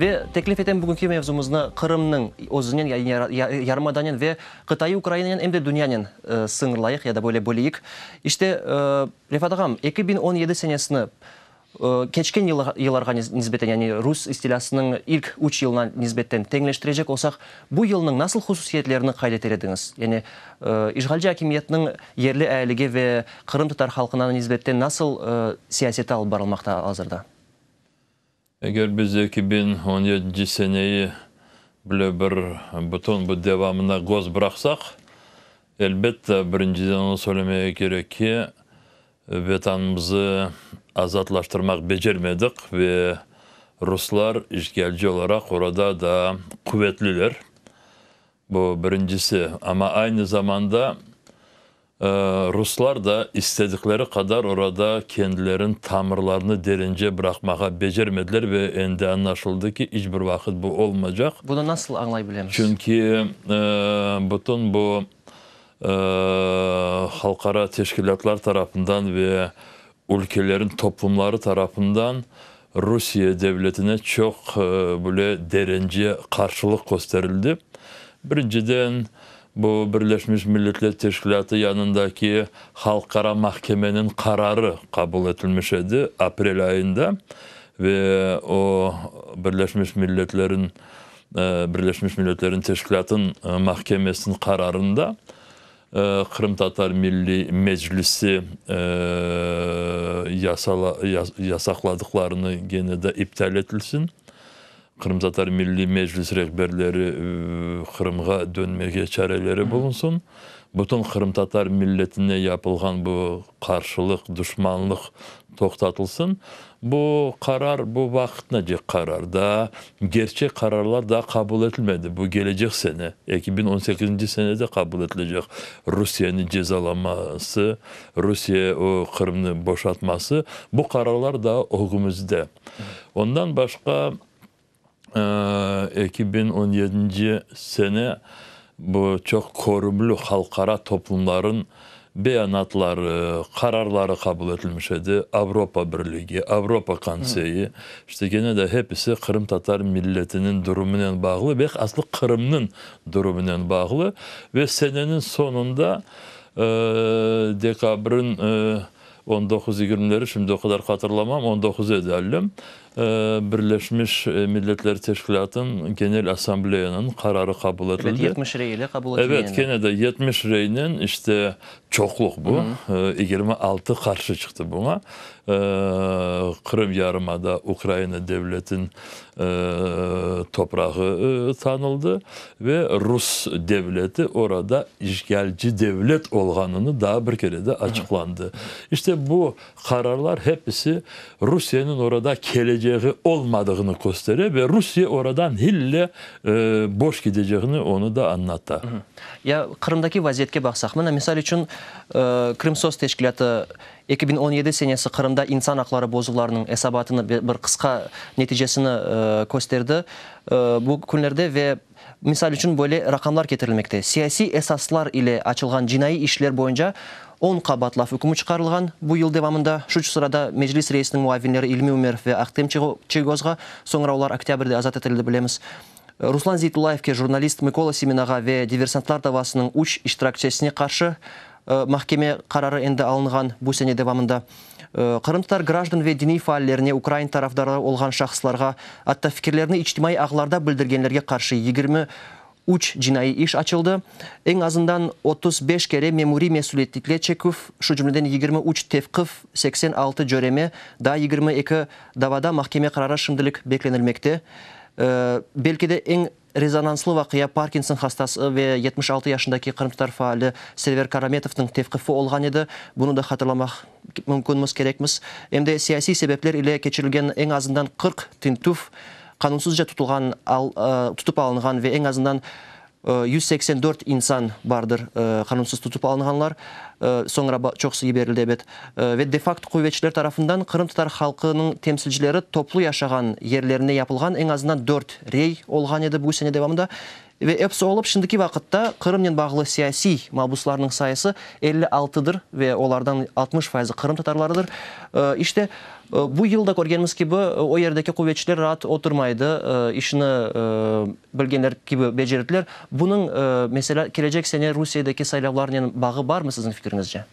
Ve teklif etem bugünki mevzumıznı Qırımnen özünen ya yarımadanen ve qıtaiy Ukrainanen em de dünyanen sıñırlayıq ya da böyle böleyik. İşte, Refat ağam, eki biñ on yedi senesini keçken yıllarğa nisbeten, yani rus istilâsınıñ ilk üç yılına nisbetten teñleştirecek olsaq, bu yılnıñ nasıl hususiyetlerini qayd eter ediñiz? Yani işğalci akimiyetniñ yerli ailege ve qırımtatar halqına nisbetten nasıl siyaseti alıp barılmaqta al-azırda? Eger biz eki biñ on yedinci seneyi bile bir bütün bu devamına göz bıraqsaq, elbette, birinciden onu söylemege kerek ki, Vetanımızı azatlaştırmaq becermedik ve ruslar işğalci olaraq orada daa quvetliler. Bu birincisi, amma aynı zamanda ruslar da istedikleri qadar orada kendilerin tamırlarını derince bıraqmağa becermediler ve endi añlaşıldı ki, iç bir vaqıt bu olmaycaq. Bunı nasıl añlay bilemiz? Çünki bütün bu halqara teşkilâtlar tarafından ve Ülkelerin toplumları tarafından Rusiye devletine çoq bile derence qarşılıq kösterildi. Birinciden, bu Birleşmiş Milletler Teşkilâtı yanındaki Halqara mahkemeniñ qararı qabul etilmiş edi aprel ayında ve o Birleşmiş Milletleriñ Birleşmiş Milletlerin Teşkilâtın mahkemesiniñ qararında Qırımtatar Milliy Meclisi yasaqladıqlarını gene de iptal etilsin. Qırımtatar Milliy Meclis rehberleri Qırımğa dönmege çareleri bulunsın. Bütün qırımtatar milletine yapılğan bu qarşılıq, duşmanlıq Toqtatılsın. Bu qarar, bu vaqıtnıcı qarar. Daa gerçek qararlar daa qabul etilmedi. Bu gelecek sene, eki biñ on sekizinci senede qabul etilecek. Rusiyeni cezalanması, Rusiye o Qırımnı boşatması, bu qararlar daa ögümizde. Ondan başqa, Eki biñ on yedinci sene bu çoq körümli halqara toplumlarınñ beyanatları, qararları qabul etilmiş edi, Avropa Birligi, Avropa Konseyi, işte gene de hepisi qırımtatar milletiniñ durumınen bağlı ve aslı Qırımnıñ durumınen bağlı ve seneniñ soñunda dekabrniñ On doquz, yigirmileri şimdi o qadar hatırlamam, on doquz edi allem, Birleşmiş Milletler Teşkilâtınıñ Genel Assambleyanıñ qararı qabul etildi. Evet, yetmiş rey ile qabul etildi. Evet, kene de yetmiş reynen işte çoqluq bu, yigirmi altı qarşı çıqtı buña. Qırım yarımada Ukraina devletiniñ toprağı tanıldı ve rus devleti orada işğalci devlet olğanını daa bir kere de açıqlandı. İşte bu qararlar hepisi Rusiyeniñ orada keleceği olmadığını köstere ve Rusiye orada nille boş gideceğini onı da añlata. Ya Qırımdaki vaziyetke baqsaq, mına, misal içün, Krımsos teşkilâtı, Eki biñ on yedi senesi Qırımda insan aqları bozuvlarınıñ esabatını ve bir qısqa neticesini kösterdi bu künlerde ve, misal içün, böyle raqamlar ketirilmekte, siyasiy esaslar ile açılğan cinaiy işler boyunca on qa batlav ükmü çıqarılğan bu yıl devamında, şu sırada Meclis reisiniñ muavinleri İlmi Ümerov ve Ahtem Çiygoz ğa, soñra olar oktâbrde azat etildi, bilemiz. Ruslan Zeytullayevke jurnalist Mıkola Siminağa ve diversantlar davasınıñ üç iştirakçesine qarşı mahkeme qararı endi alınğan bu sene devamında. Qırımtatar grajdan ve diniy faallerine, ukrain tarafdarı olğan şahıslarğa, atta fikirlerini içtimaiy ağlarda bildirgenlerge qarşı yigirmi üç cinaiy iş açıldı, eñ azından otuz beş kere memuriy mesüliyetlikle çeküv, şu cümleden yigirmi üç tevqif, seksen altı cöreme, daa yigirmi eki davada mahkeme qararı şimdilik beklenilmekte. Belki de eñ rezonanslı vaqia Parkinson hastası ve yetmiş altı yaşındaki qırımtatar faali Server Karametovnıñ tevqifi olğan edi, bunı da hatırlamaq mümkünmiz, kerekmiz. Em de siyasiy sebepler ile keçirilgen eñ azından qırq tintüv, qanunsızca tutulğan, tutıp alınğan ve eñ azından Yüz seksen dört insan bardır qanunsız tutıp alınğanlar, soñra çoqusı yiberildi, ebet, ve de facto quvetçiler tarafından qırımtatar halqınıñ temsilcileri toplu yaşağan yerlerinde yapılğan eñ azından dört rey olğan edi bu sene devamında. Ve episi olıp, şimdiki vaqıtta Qırımnen bağlı siyasiy mabuslarnıñ sayısı elli altıdır ve olardan altmış fayızı qırımtatarlarıdır. İşte, bu yıl da körgenimiz kibi, o yerdeki quvetçiler raat oturmay edi, işini. Bilgenler kibi becerdiler. Bunıñ, meselâ, kelecek sene Rusiyedeki saylavlarnen bağı barmı siziñ fikiriñizce?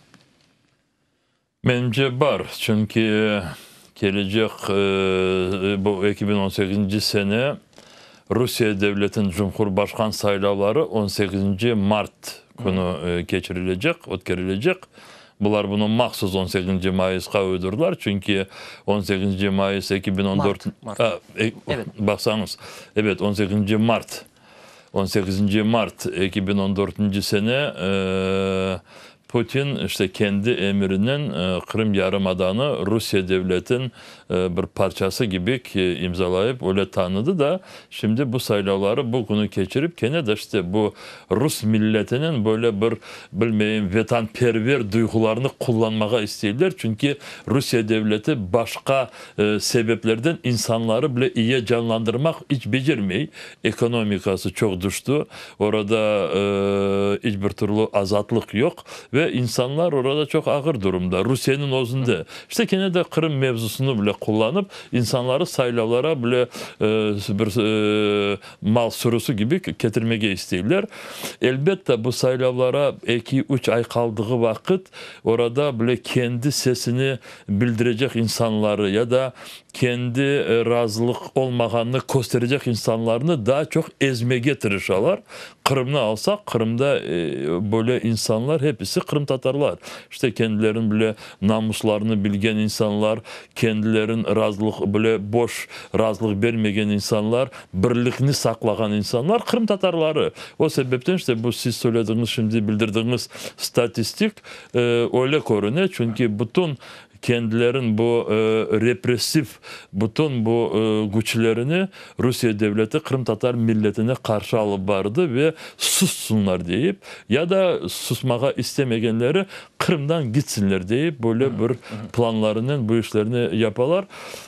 Menimce, bar. Çünki kelecek, bu eki biñ on sekizinci sene Rusiye devletiniñ cumhurbaşqan saylavları on sekizinci mart künü keçirilecek, ötkerilecek. Bular bunı mahsus on sekinci mayısqa uydurdılar, çünki on sekinci mayıs eki biñ on dört, baqsañız, ebet, on sekinci mart, on sekizinci mart eki biñ on dörtünci sene Putin işte kendi emirinen Qırım yarımadanı Rusiye devletin bir parçası kibi ki, imzalayıp, öyle tanıdı da, şimdi bu saylavları bu künü keçirip, kene de işte bu rus milletiniñ böyle bir, bilmeyim, vetanperver duyğularını qullanmağa isteyler, çünki Rusiye devleti başqa sebeplerden insanları bile iye canlandırmaq iç becermey, ekonomikası çoq düşti, orada iç bir türlü azatlıq yoq ve insanlar orada çoq ağır durumda, Rusiyeniñ özünde, İşte kene de Qırım mevzusını bile qullanıp, insanları saylavlara bile bir mal sürüsi kibi ketirmege isteyler. Elbette, bu saylavlara eki, üç ay qaldığı vaqıt orada bile kendi sesini bildirecek insanları ya da kendi razılıq olmağanını kösterecek insanlarnı daa çoq ezmege tırışalar. Qırımnı alsaq, Qırımda böyle insanlar hepisi qırımtatarlar. İşte kendilerini bile Namuslarını bilgen insanlar, kendilerin razılıq bile boş razılıq bermegen insanlar, birlikni saqlağan insanlar qırımtatarları. O sebepten işte bu siz söylediğiñiz, şimdi bildirdiğiñiz statistik öyle körüne, çünki bütün kendilerin bu repressiv bütün bu güçlerini Rusiye devleti qırımtatar milletine qarşı alıp bardı ve sussınlar deyip, ya da susmağa istemegenleri Qırımdan gitsinler deyip, böyle bir planlarınen bu işlerni yapalar.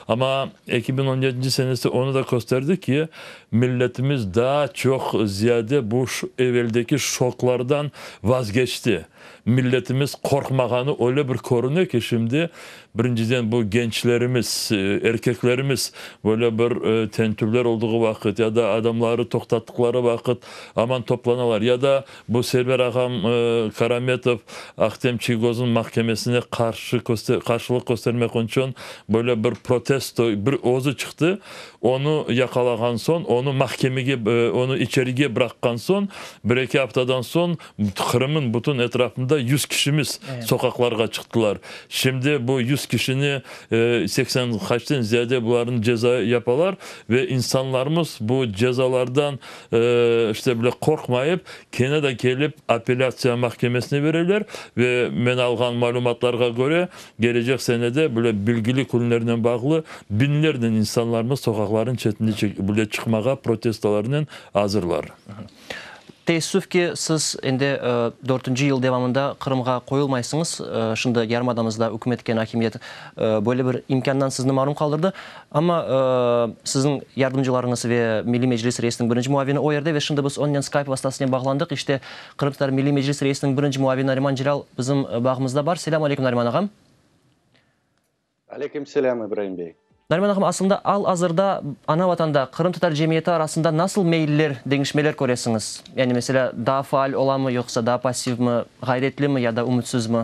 Amma eki biñ on yedinci senesi onı da kösterdi ki, milletimiz daa çoq ziyade bu eveldeki şoklardan vazgeçti. Milletimiz qorqmağanı öyle bir körüne ki, şimdi, birinciden, bu gençlerimiz, erkeklerimiz böyle bir tentüvler olduğu vaqıt ya da adamları toqtattıqları vaqıt aman toplanalar ya da Bu sefer ağam Karametov Ahtem Çiygoznıñ mahkemesine qarşı qarşılıq köstermek içün böyle bir protesto, bir özü çıqtı. Onı yaqalağan soñ, onı mahkemege, onı içerige bıraqqan soñ, bir-eki aftadan soñ Qırımnıñ bütün etrafında yüz kişimiz soqaqlarğa çıqtılar. Şimdi bu yüz kişini, seksen qaçten ziyade bularnı ceza yapalar ve insanlarımız bu cezalardan, İşte bile qorqmayıp, kene de kelip apellâtsiya mahkemesine bereler ve men alğan malümatlarğa köre, kelecek sene de bile belgili künlernen bağlı biñlernen insanlarmız soqaqlarnıñ çetine bile çıqmağa protestolarnen azırlar. Teessüf ki, siz endi dörtünci yıl devamında Qırımğa qoyulmaysıñız. Şimdi yarımadamızda ükümet etken akimiyet böyle bir imkândan sizni marum qaldırdı. Amma siziñ yardımcılarıñız ve Milliy Meclis reisiniñ birinci muavini o yerde ve şimdi biz onnen Skype vastasınen bağlandıq. İşte Qırımtatar Milliy Meclis reisiniñ birinci muavini Nariman Celâl bizim bağımızda bar. Selâm aleyküm, Nariman ağam! Aleyküm selâm, İbraim bey! Nariman ağam, aslında al-azırda ana Vatanda qırımtatar cemiyeti arasında nasıl meyiller, deñişmeler köresiñiz? Yani, meselâ, daa faal olamı, yoqsa daa passivmi, ğayretlimi ya da ümütsizmi?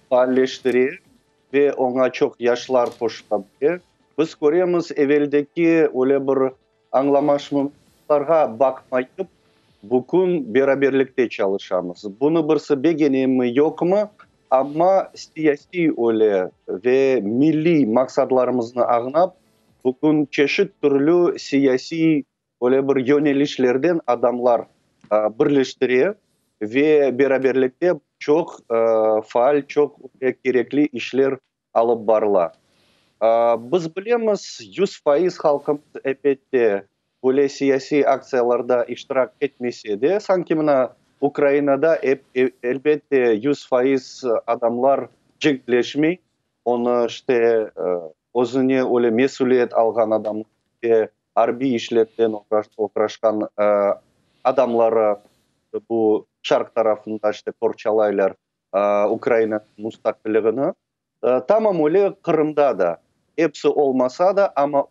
faalleştire ve oña çoq yaşlar qoşula bile. Biz köremiz, eveldeki öyle bir añlamasmazlıqlarğa baqmayıp, bugün beraberlikte çalışamız. Bunı birisi begenemi, yoqmı, amma siyasiy öyle ve milliy maqsadlarımıznı añlap, bugün çeşit türlü siyasiy Böyle bir yönelişlerden adamlar birleştire ve beraberlikte çoq faal, çoq kerekli işler alıp barıla. Biz bilemiz, yüz faiz halqımız, elbette, böyle siyasiy aktsiyalarda iştirak etmese de, sanki mına Ukrainada, elbette, yüz faiz adamlar cenkleşmey, onı işte Özüne öyle mesüliyet alğan adamlar ve arbiy işler bilen oğraşqan adamları bu şarq tarafında işte qorçalaylar Ukrainanıñ mustaqilligini. Tamam öyle Qırımda da, episi olmasa da, amma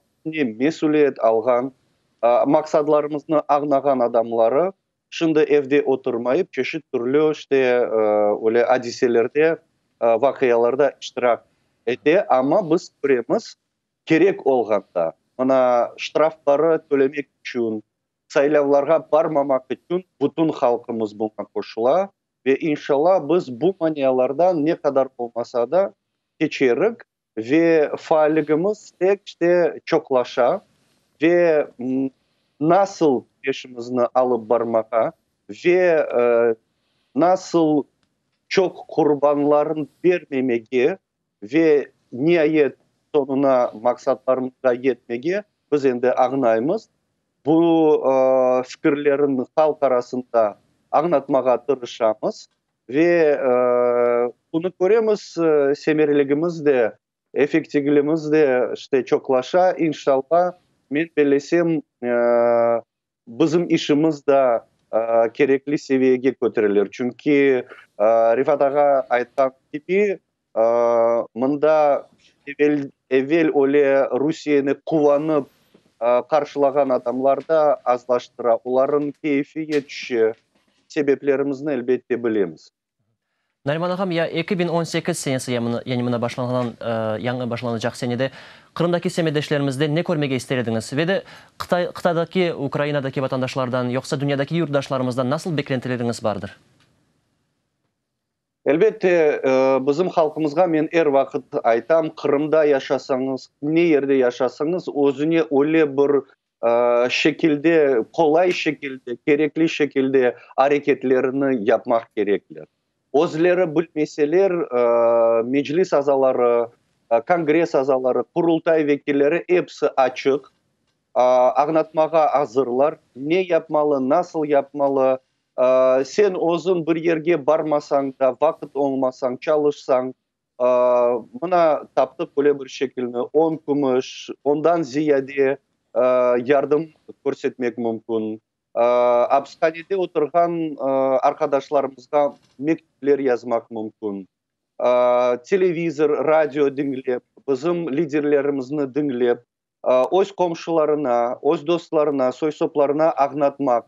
mesüliyet alğan, maqsadlarımıznı añnağan adamları Şimdi evde oturmayıp, çeşit türlü işte öyle adiselerde, vaqialarda iştirak ete. Amma biz köremiz, kerek olğanda, mına ştrafları tölemek içün, saylavlarğa barmamaq içün bütün halqımız buña qoşula. Ve inşalâ biz bu manialardan ne qadar olmasa da keçerik. Ve faalligimiz tek de çoqlaşa ve nasıl işimizni alıp barmağa ve nasıl çoq qurbanlarnı bermemege ve niayet soñuna maqsatlarımızğa yetmege biz endi añaymız. Bu fikirlerin halq arasında añatmağa tırışamız. Ve bunı köremiz, semereligimiz de, efektivligimiz de işte çoqlaşa. İnşalla, men bellesem, bizim işimiz da kerekli seviyege köterilir. Çünki Refat ağa aytqan kibi, Mında evel öyle Rusiyeni quvanıp qarşılağan adamlar da azlaştıra, olarnıñ keyfi ye tüşe. Sebeplerimizni, elbette, bilemiz. Nariman ağam, ya eki biñ on sekiz senesi, yani mına başlanğan, yañı başlanacaq senede Qırımdaki semetdeşlerimizden ne körmege ister ediñiz? Ve de qıtadaki, Ukrainadaki vatandaşlardan, yoqsa dünyadaki yurtdaşlarımızdan nasıl beklentileriñiz bardır? Elbette, bizim halqımızğa men er vaqıt aytam, Qırımda yaşasañız, ne yerde yaşasañız, özüne öyle bir şekilde, qolay şekilde, kerekli şekilde areketlerini yapmaq kerekler. Özleri bilmeseler, Meclis azaları, Kongres azaları, Qurultay vekilleri episi açıq, añlatmağa azırlar, ne yapmalı, nasıl yapmalı, Sen özüñ bir yerge barmasañ da, vaqıt oñmasañ, çalışsañ, mına, taptıq böyle bir şekilni, on kümüş, ondan ziyade yardım körsetmek mümkün. Apishanede oturğan arqadaşlarımızğa mektüpler yazmaq mümkün. Televizor, radio diñlep, bizim liderlerimizni diñlep, öz qomşularına, öz dostlarına, soy-soplarına añlatmaq,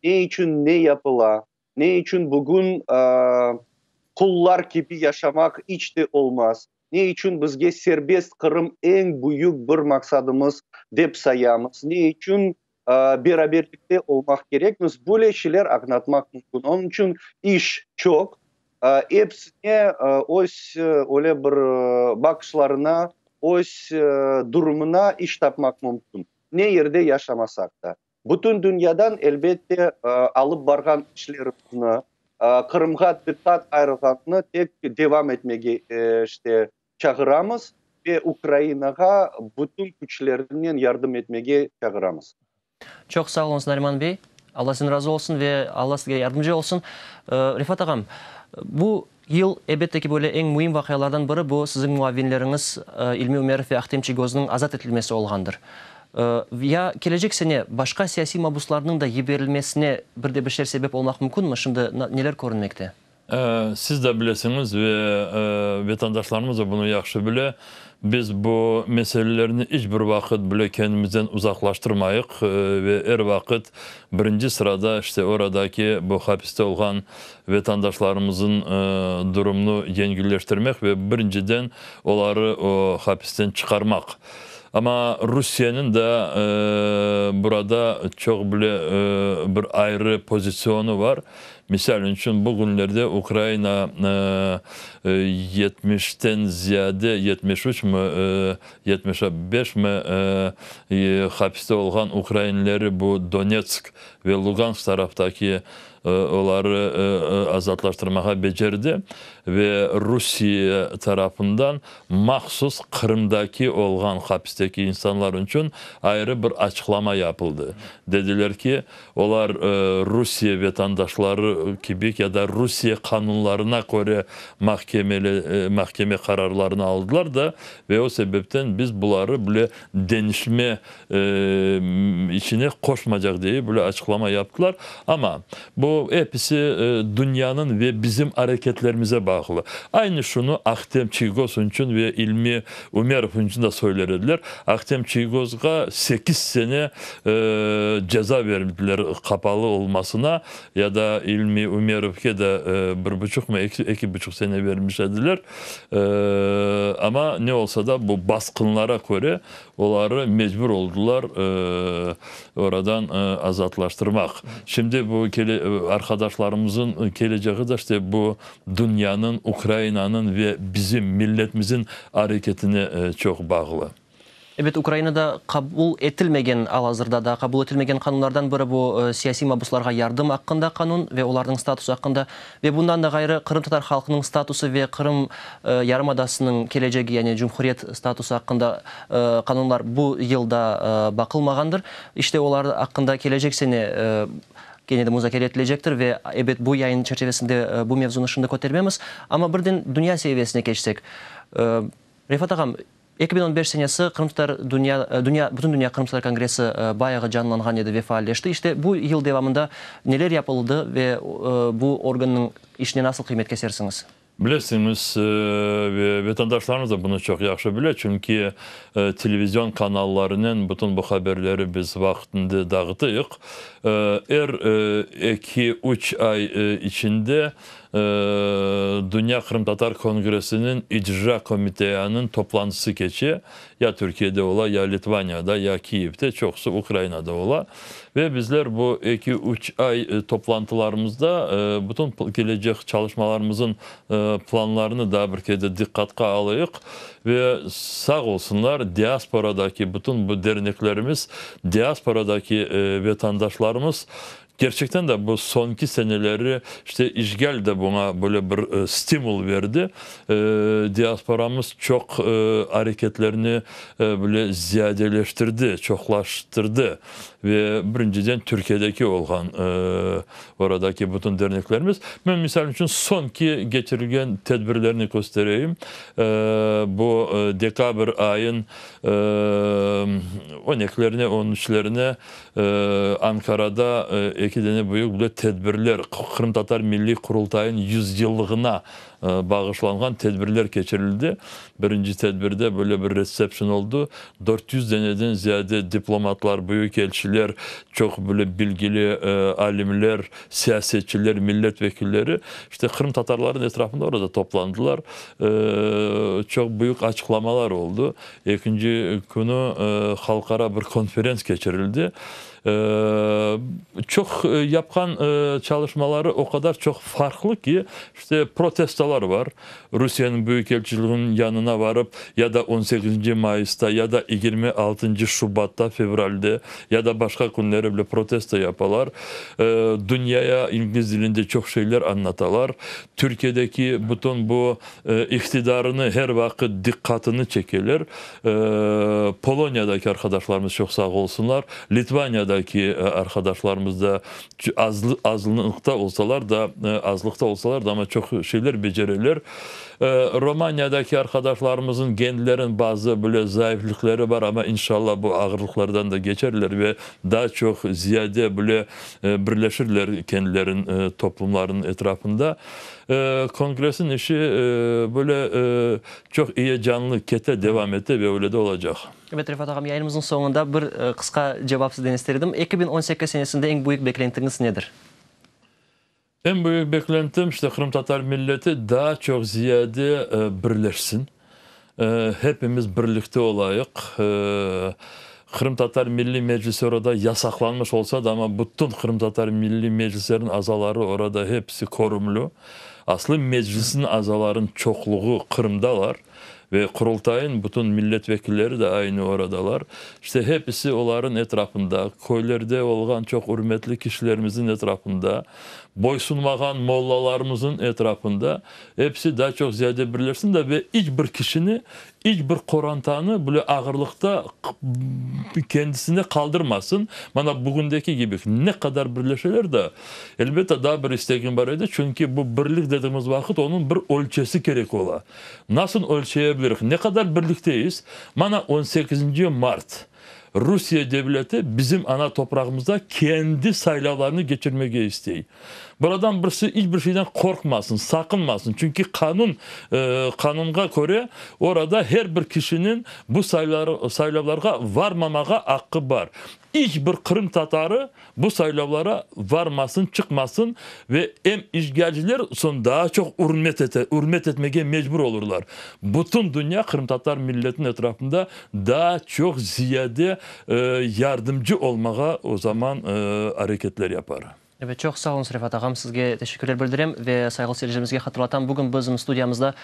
ne içün ne yapıla, ne içün bugün qullar kibi yaşamaq iç de olmaz, ne içün bizge serbest Qırım eñ büyük bir maqsadımız dep sayamız, ne içün Beraberlikte olmaq kerekmiz, böyle şeyler añlatmaq mümkün. Onıñ içün iş çoq. Epsine öz öyle bir baqışlarına, öz durumına iş tapmaq mümkün, ne yerde yaşamasaq da. Bütün dünyadan, elbette, alıp barğan işlerimizni, Qırımğa diqqat ayırğanını tek devam etmege, işte, çağıramız ve Ukrainağa bütün küçlerinen yardım etmege çağıramız. Çoq sağ oluñız, Nariman bey. Alla sizden razı olsun ve Alla sizge yardımcı olsun. Refat ağam, bu yıl, elbette ki, böyle eñ müim vaqialardan biri bu siziñ muavinleriñiz İlmi Ümerov ve Ahtem Çigoznıñ azat etilmesi olğandır. Ya kelecek sene başqa siyasiy mabuslarnıñ da yiberilmesine bir de bir şeyler sebep olmaq mümkünmi? Şimdi neler körünmekte? Siz de bilesiñiz ve vetandaşlarımız da bunı yahşı bile, biz bu meselelerni iç bir vaqıt bile kendimizden uzaqlaştırmayıq ve er vaqıt birinci sırada işte oradaki bu hapiste olğan vetandaşlarımızın durumunu yengilleştirmek ve birinciden oları o hapisten çıqarmaq. Amma Rusiyeniñ de burada çoq bile bir ayrı pozitsionu var. Misal içün, bu künlerde Ukraina yetmişten ziyade, yetmiş üç mi, yetmiş beş mi, hapiste olğan ukrainleri, bu Donetsk ve Lugansk taraftaki, oları azatlaştırmağa becerdi ve Rusiye tarafından mahsus Qırımdaki olğan hapisteki insanlar içün ayrı bir açıqlama yapıldı. Dediler ki, Olar Rusiye vetandaşları kibi ya da Rusiye qanunlarına köre mahkeme qararlarını aldılar da, ve o sebepten biz buları böyle deñişme içine qoşmacaq degip böyle açıqlama yaptılar. Amma bu episi dünyanıñ ve bizim areketlerimize bağlı. Aynı şunı Ahtem Çiygoz içün ve İlmi Ümerov üncüne söyler ediler. Ahtem Çiygoz-ğa sekiz sene ceza berdiler qapalı olmasına, ya da İlmi Ümerovge de bir buçuqmı, eki buçuq sene bermiş ediler. Amma ne olsa da, bu basqınlara köre, oları mecbur oldılar oradan azatlaştırmaq. Şimdi bu arkadaşlarımızın keleceği de işte bu dünyanıñ, Ukrainanıñ ve bizim milletmizin areketine çoq bağlı. Ebet, Ukrainada qabul etilmegen, al-azırda daa qabul etilmegen qanunlardan biri bu siyasiy mabuslarğa yardım aqqında qanun ve olarnıñ statusı aqqında. Ve bundan da ğayrı, qırımtatar halqınıñ statusı ve Qırım yarımadasınıñ kelecegi, yani cumhuriyet statusı aqqında qanunlar bu yıl daa baqılmağandır. İşte olar aqqında kelecek sene. kene de muzakere etilecektir ve, ebet, bu yayın çerçivesinde bu mevzunı şimdi kötermemiz. Amma birden dünya seviyesine keçsek, Refat ağam, eki biñ on beş senesi qırımtatar dünya, dünya, bütündünya qırımtatar kongressi bayağı canlanğan edi ve faalleşti. İşte, bu yıl devamında neler yapıldı ve bu organnıñ işine nasıl qıymet kesersiñiz? Bilesiñiz, ve vetandaşlarımız da bunı çoq yahşı bile, çünki televizion kanallarınen bütün bu haberleri biz vaqtında dağıtıyıq. Er eki, üç ay içinde Dünya qırımtatar kongressiniñ icra komiteanıñ toplantısı keçe, Ya Türkiyede ola, ya Litvaniyada, ya Kiyevde, çoqusı Ukrainada ola. Ve bizler bu eki-üç ay toplantılarımızda bütün kelecek çalışmalarımızın planlarını daa bir kede diqqatqa alayıq. Ve sağ olsunlar, diasporadaki bütün bu derneklerimiz, diasporadaki vetandaşlarımız Kerçekten de bu soñki seneleri işte işğal da buña böyle bir stimul berdi. Diasporamız çoq areketlerni böyle ziyadeleştirdi, çoqlaştırdı. Ve birinciden Türkiyedeki olğan oradaki bütün derneklerimiz. Men misal içün soñki keçirilgen tedbirlerni köstereyim. Bu dekabr ayın on ekilerine, on üçlerine Ankarada eki dene büyük bile tedbirler, Qırımtatar Milliy Qurultayıñ yüzyıllığına bağışlanğan tedbirler keçirildi. Birinci tedbirde böyle bir retsepşın oldu. Dört yüz deneden ziyade diplomatlar, büyük elçiler, çoq böyle bilgili alimler, siyasetçiler, millet vekilleri işte qırımtatarların etrafında orada toplandılar. Çoq büyük açıqlamalar oldu. Ekinci künü halqara bir konferens keçirildi. Çoq yapqan çalışmaları o qadar çoq farqlı ki, işte protestolar bar, Rusiyeniñ büyük elçiliginiñ yanına barıp, ya da on sekizinci mayısta, ya da yigirmi altıncı şubatta, fevralde, ya da başqa künleri bile protesto yapalar. Dünyaya ingliz dilinde çoq şeyler añlatalar. Türkiyedeki bütün bu iqtidarını her vaqıt diqqatını çekeler, Poloniyadaki arqadaşlarımız çoq sağ olsunlar, Litvaniyadaki arqadaşlarımız da azlıqta olsalar da, azlıqta olsalar da, amma çoq şeyler becereler. Romaniyadaki arqadaşlarımızın genlerin bazı böyle zayıflıqları bar, amma inşallah bu ağırlıqlardan da geçerler ve daa çoq ziyade böyle birleşirler kendilerin toplumlarınıñ etrafında. Kongressiñ işi böyle çoq eyecanlı kete, devam ete ve öyle de olacaq. Evet, Refat ağam, yayınımıznıñ soñunda bir qısqa cevap sizden ister edim. Eki biñ on sekiz senesinde eñ büyük beklentiñiz nedir? Eñ büyük beklentim, işte qırımtatar milleti daa çoq ziyade birleşsin. Hepimiz birlikte olayıq. Qırımtatar Milliy Meclisi orada yasaqlanmış olsa da, amma bütün Qırımtatar Milliy Meclisleriniñ azaları orada hepsi körümli. Aslı Meclisniñ azalarınıñ çoqluğı Qırımdalar ve Qurultayınıñ bütün milletvekilleri de aynı oradalar. İşte hepsi olarınıñ etrafında, köylerde olğan çoq ürmetli kişilerimizniñ etrafında, boysunmağan mollalarımızıñ etrafında Episi daa çoq ziyade birleşsin da ve iç bir kişini, iç bir qorantanı bile ağırlıqta kendisine qaldırmasın. Mana bugündeki gibi ne qadar birleşeler de, elbette daa bir istegim bar edi, çünki bu birlik dediğimiz vaqıt onıñ bir ölçesi kerek ola. Nasıl ölçeyebilirik? Ne qadar birlikteyiz? Mana on sekizinci mart Rusiye devleti bizim ana toprağımızda kendi saylavlarını geçirmege istey. Buradan birisi iç bir şeyden qorqmasın, saqınmasın, çünki qanun, qanunğa köre orada her bir kişiniñ bu saylavlarğa varmamağa aqqı bar. İç bir qırımtatarı Bu saylavlara varmasın, çıqmasın ve em işğalciler soñ daa çoq ürmet etmege mecbur olurlar. Bütün dünya qırımtatar milletiniñ etrafında daa çoq ziyade yardımcı olmağa o zaman areketler yapar. Evet, çoq sağ oluñız, Refat ağam. Sizge teşekkürler bildirem ve sayğılı seyircilerimizge hatırlatam, bugün bizim studiyamızda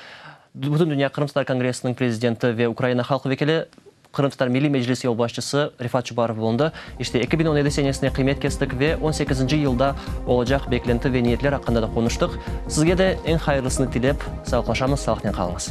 Bütün dünya qırımtatar kongressiniñ prezidenti ve Ukraina halq vekili Qırımtatar Milliy Meclisi yolbaşçısı Refat Çubarov bulundı. İşte, eki biñ on yedi senesine qıymet kestik ve on sekizinci yılda olacaq beklenti ve niyetler aqqında da qonuştıq. Sizge de eñ hayırlısını tilep, sağlıqlaşamız, sağlıqnen qalıñız.